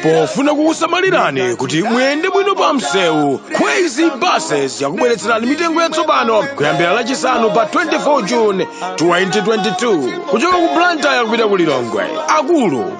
pofuna kukusamalirani kuti muyende bwino pa msewu kwezy buses yakubweretserani mitengo yatsopano kuyambira lachisanu pa 24 june 2022 kuchoka ku blantyre kupita ku lilongwe akulu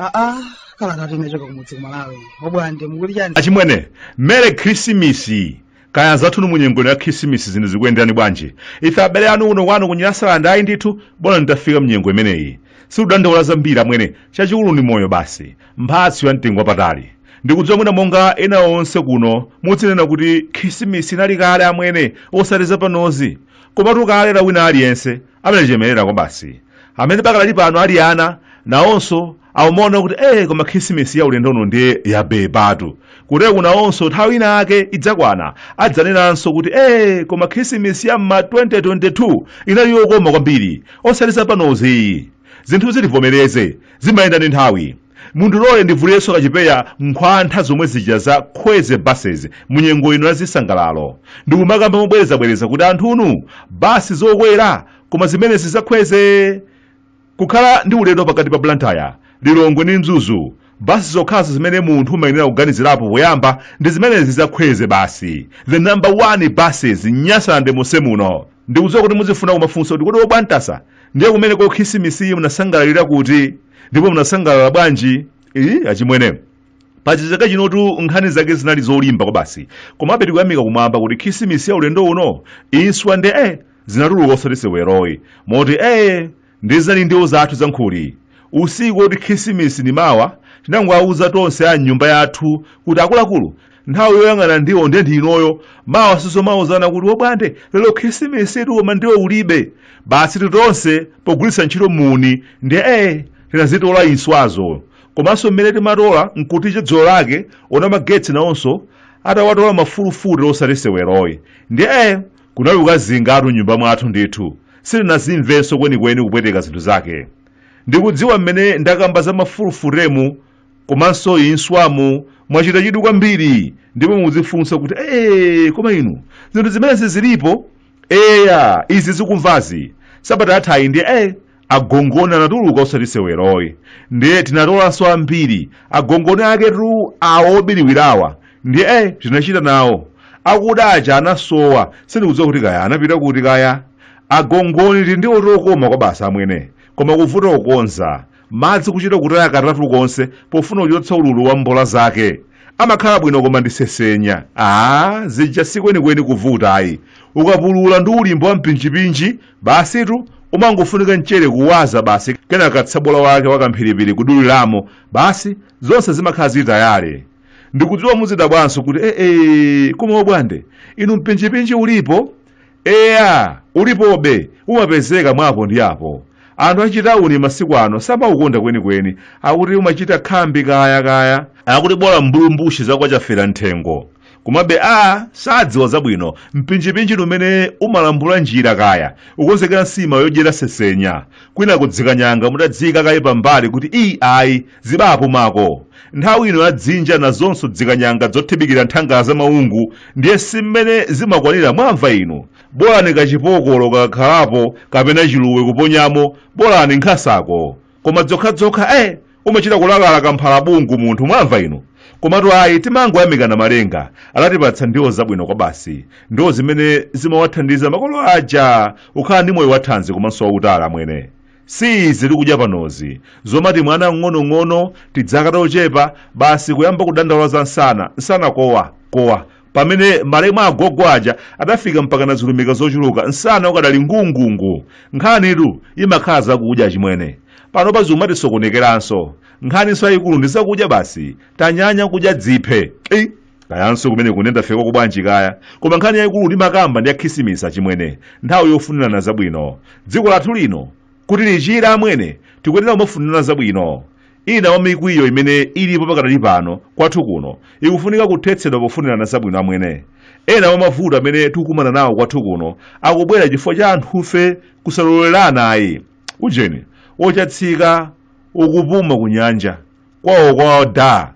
aa kala tati nachoka kumudzi kumalawi obwande mukuti chani achimwene mere khrisimisi kaya anzathunu mu nyengo ino ya khisimisi zinthu zikuyenderani bwanji ife abale anu kuno kwanu ku nyasalande ayi ndithu bola nditafika mnyengo imeneyi sikudandaula zambiri amwene chachikulu ndi moyo basi mphatso ya mtengo wapatali ndikudziwa mwina monga ena onse kuno mudzinena kuti khisimisi inali kale amwene osati zapanozi komatu kale la wina aliyense amalichemerera kwabasi amene pakadali pano ali ana nawonso akumaona kuti ee koma khisimisi ya ulendo uno ndiye yabebatu kutereku nawonso nthawi ina ake idzakwana adzanenanso kuti ee koma khisimisi ya mma 2022 inali yokoma kwambiri osati zapanozi zinthuzi tivomereze zimayenda ndi nthawi mundilole ndivulirenso kachipeya nkhwantha zomwe zija za kwezy buses mu nyengo ino ya zisangalalo ndikumakamba mobwerezabwereza kuti anthunu basi zokwera koma zimenezi za kwezy Kukhala ndi ulendo pakati pa Blantyre, Lilongwe ndi Mzuzu, basi zokhazo zimene munthu umayenera kuganizirapo poyamba ndi zimenezi za Kwezy basi. The number 1 buses Nyasalande monse muno. Ndikudziwa kuti muzifuna kumafunsa kuti kodi obwantasa ndiye kumeneko khisimisiyi munasangalalira kuti ndipo munasangalala bwanji? Ii, achimwene. Paja chaka chinotu nkhani zake zinali zolimba kwabasi. Komabe tikuyamika kumwamba kuti khisimisi ya ulendo uno inswa nde eh, zinatuluka osati seweroyi moti ee ndi zinali ndiwo zathu zankhuli usiku oti khisimisi ni mawa tinangowauza tonse a mnyumba yathu kuti akuluakulu nthawi yoyang'ana ndiwo nde ndi inoyo mawa sizomauzana kuti wobwande lero khisimisitu koma ndiwo ulibe basitu tonse pogwiritsa ntchito muuni ndi ee tinazitola inswazo komanso mmene timatola nkuti chadzulo lake ona magetsi nawonso atawatola mafulufute osati seweroyi ndi ee Kunali kukazingatu m'nyumba mwathu ndithu. Sitinazimvenso kwenikweni kupweteka zinthu zake. Ndikudziwa mmene ndakamba za mafulufutemu komanso inswamu mwachita chidwi kwambiri ndipo mudzifunsa kuti ee koma inu zinthu zimenezi zilipo? Eya izi zikumvazi sabata yathayi ndiye ee agongoni anatuluka osati seweroyi ndiye tinatolanso ambiri agongoni aketu awo obiriwirawa ndiye eh, tinachita nawo akuda aja anasowa sindikudziwa kuti kaya anapita kuti kaya agongoni tindiwo tokoma kwabasi amwene koma kuvuta kukonza madzi kuchita kutaya katatu konse pofuna kuchotsa ululu wa mbola zake amakhala bwino koma ndi sesenya aa zija sikwenikweni kuvuta ayi ukapulula ndi ulimbo wa mpinjipinji Basitu umangofunika mchere kuwaza basi kenaka tsabola wake wakamphiripiri kuduliramo basi zonse zimakhala zili tayale ndikudziwa muzidabwanso kuti ee koma obwande inu mpinjipinji ulipo eya ulipobe umapezeka mwapo ndi apo anthu achitawuni masiku ano samaukonda kwenikweni akuti umachita khambi kaya kaya akuti bola mbulumbushi zakwa chafera nthengo komabe a sadziwa zabwino mpinjipinji ni umene umalambula njira kaya ukonzekera nsima yodyera sesenya kwina kudzikanyanga mutadziyika kaye pambali kuti iyi ayi zibapo mako nthawi ino ya dzinja nazonso dzikanyanga dzothibikira nthangala za maungu ndiye si mmene zimakwanira mwamva inu bolani kachipokolo kakakhalapo kapena chiluwe kuponyamo bolani nkhasako koma dzokhadzokha eh umachita kulakalaka mphalabungu munthu mwamva inu komatu ayi timangoyamikana malenga adatipatsa ndiwo zabwino kwabasi ndiwo zimene zimawathandiza makolo aja kukhala ndi moyo wathanzi komanso wautali amwene si izi tikudya panozi zomati mwana ng'onong'ono tidzaka tochepa basi kuyamba kudandaula za nsana nsana kowa kowa pamene malemu agogo aja adafika mpaka na zilumika zochuluka nsana ukadali ngungungu nkhanitu imakhala zakudya chimwene pano paziumatisokonekeranso nkhaninso yayikulu ndi zakudya basi tanyanya kudya dziphe Ei, kayanso kumene kunenda feko kubwanji kaya koma nkhani yayikulu ndimakamba ndi ya khisimisi achimwene nthawi yofunirana zabwino dziko lathu lino kuti lichire amwene tikuyenera kumafunirana zabwino Ina mwa mikwiyo imene ilipo pakadali pano kwathu kuno ikufunika kuthetsedwa pofunirana zabwino amwene. Ena mwa mavuto amene tikukumana nawo kwathu kuno akubwera chifukwa cha anthufe kusalolerana ayi. Ujeni, ochatsika, ukupuma ku nyanja, kwawo kwa da.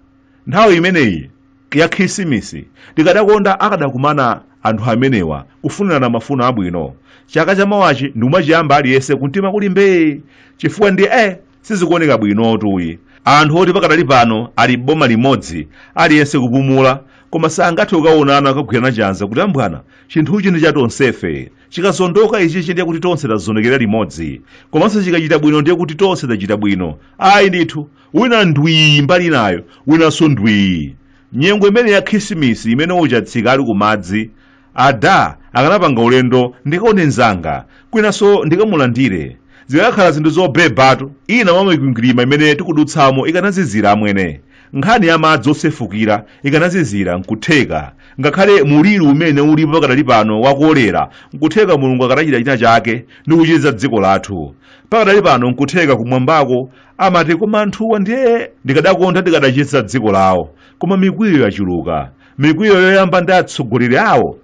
Nthawi imeneyi ya khisimisi tikadakonda akadakumana anthu amenewa kufunirana mafuno abwino. Chaka chamawachi ndikumachiyamba aliyense kumtima kuli mbee chifukwa ndi eh! sizikuoneka bwinotu ayi anthu oti pakadali pano ali boma limodzi aliyense kupumula koma sangathe kukaonana kukagwirana chanza kuti ambwana chinthuchi ndi cha tonsefe chikazondoka ichichi ndiye kuti tonse tazondokera limodzi komanso chikachita bwino ndiye kuti tonse tachita bwino ayi ndithu wina ndwii mbali inayo winanso ndwii nyengo imene ya khisimisi imene ochatsika ali kumadzi ada akanapanga ulendo ndikaone mzanga kwinanso ndikamulandire zikanakhala zinthu zobebatu ina mwa mikwingwirima imene tikudutsamo ikanazizira amwene nkhani ya madzi osefukira ikanazizira nkutheka ngakhale muliri umene ulipo pakadali pano wa kolera nkutheka mulungu akadachita china chake ndi kuchiza dziko lathu pakadali pano nkutheka kumwambako amati koma anthuwa ndiye ndikadakonda ndikadachiza dziko lawo koma mikwiyo yachuluka mikwiyo imayamba ndi atsogoleri awo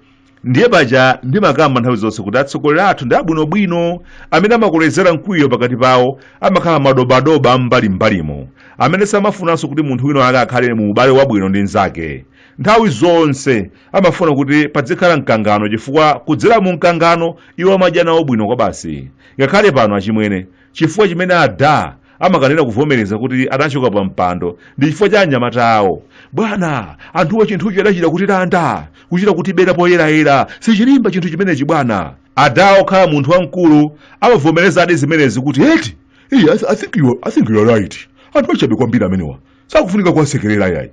ndiye paja ndimakamba nthawi zonse kuti atsogoleri athu ndi abwinobwino amene amakolezera mkwiyo pakati pawo amakhala madobadoba am'mbalim'mbalimo amene samafunanso kuti munthu wina ake akhale mu ubale wabwino ndi mnzake nthawi zonse amafuna kuti padzikhala mkangano chifukwa kudzera mu mkangano iwo amadya nawo bwino kwabasi ngakhale pano achimwene chifukwa chimene ada amakanira kuvomereza kuti adachoka pa mpando ndi chifukwa cha anyamata awo bwana anthuwa chinthucho adachita kutilanda kuchita kutibera poyerayera sichilimba chinthu chimenechi bwana adawo okhala munthu wamkulu amavomerezadi zimenezi kuti I think you are right anthu achabe kwambiri amenewa sakufunika kuwasekerera yayi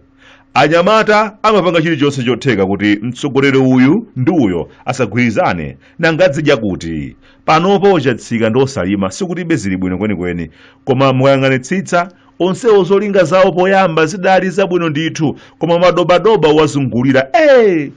anyamata amapanga chilichonse chotheka kuti mtsogoleri uyu ndi uyo asagwirizane nanga adzidya kuti panopo a Chatsika ndi a Salima sikuti zili bwino kwenikweni koma mukayang'anitsitsa onsewo zolinga zawo poyamba zidali zabwino ndithu koma madobadoba awazungulira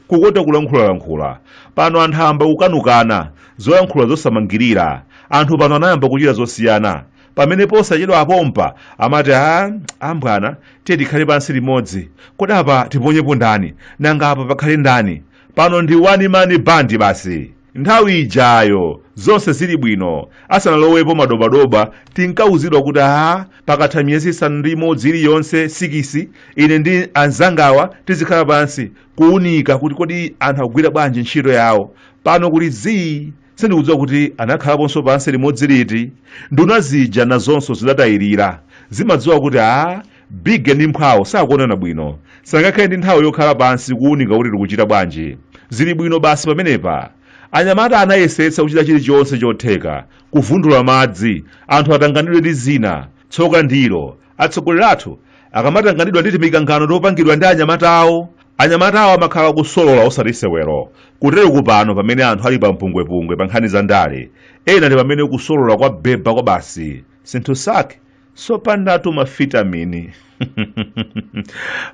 kukota kulankhulalankhula pano anthu ayamba kukanukana zoyankhula zosamangirira anthu pano anayamba kuchita zosiyana pamene posachedwapa pompa amati a abwana tiye tikhale pansi limodzi kodi apa tiponyepo ndani nanga apa pakhale ndani pano ndi one man band basi nthawi ijayo zonse zili bwino asanalowepo madobadoba tinkauzidwa kuti a pakatha miyezi isanu ndi imodzi iliyonse sikisi ine ndi anzangawa tizikhala pansi kuunika kuti kodi anthu akugwira bwanji ntchito yawo pano kuli zii sindikudziwa kuti anakhalaponso pansi limodzi liti nduna zija nazonso zidatayirira zimadziwa kuti a big ndi mphwawo sakuonana bwino sangakhale ndi nthawi yokhala pansi kuwunika kuti tikuchita bwanji zili bwino basi pamenepa anyamata anayesetsa kuchita chilichonse chotheka kuvundula madzi anthu atanganidwe ndi zina tsoka ndilo atsogoleri athu akamatanganidwa ndi timikangano topangidwa ndi anyamata awo Anyamatawa amakhala akusolola osati sewero. Kutereku pano pamene anthu ali pa mpungwepungwe pa nkhani za ndale, ena ndi pamene kusolola kwabeba kwabasi. Zinthu zake zopandatu mavitamini.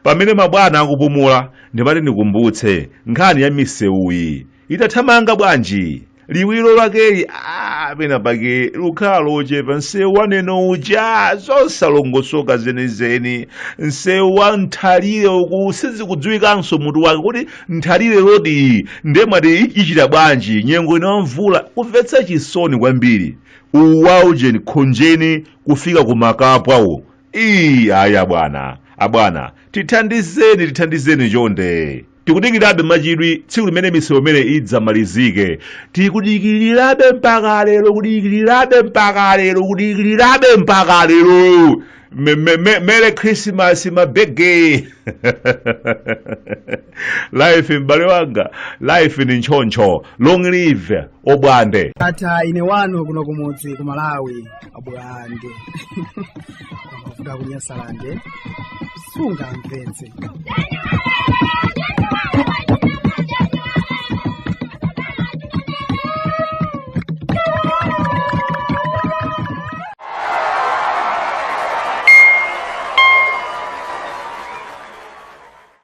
Pamene mabwana akupumula, ndimati ndikumbutse nkhani ya misewuyi. ikuthamanga bwanji liwiro lakeli ah, pena pake likukhala lochepa msewu wa Neno uja zosalongosoka zenizeni msewu wa nthalire uku sizikudziwikanso mutu wake kodi nthalire road ndiye mwati ichita bwanji nyengo ino ya mvula kumvetsa chisoni kwambiri uwu wa ujeni khonjeni kufika ku Makapwa uwo ayi abwana abwana tithandizeni tithandizeni chonde tikudikirirabe mwachidwi tsiku limene msewu umene udzamalizike tikudikirirabe mpaka lero kudikirirabe mpaka lero kudikirirabe mpaka lero Me- me- me- merry christmas mabege life m'bale wanga life ndi choncho long live obwande ata ine wanu kuno kumudzi ku malawi abulande kuvuga kunyasalande sungamvetse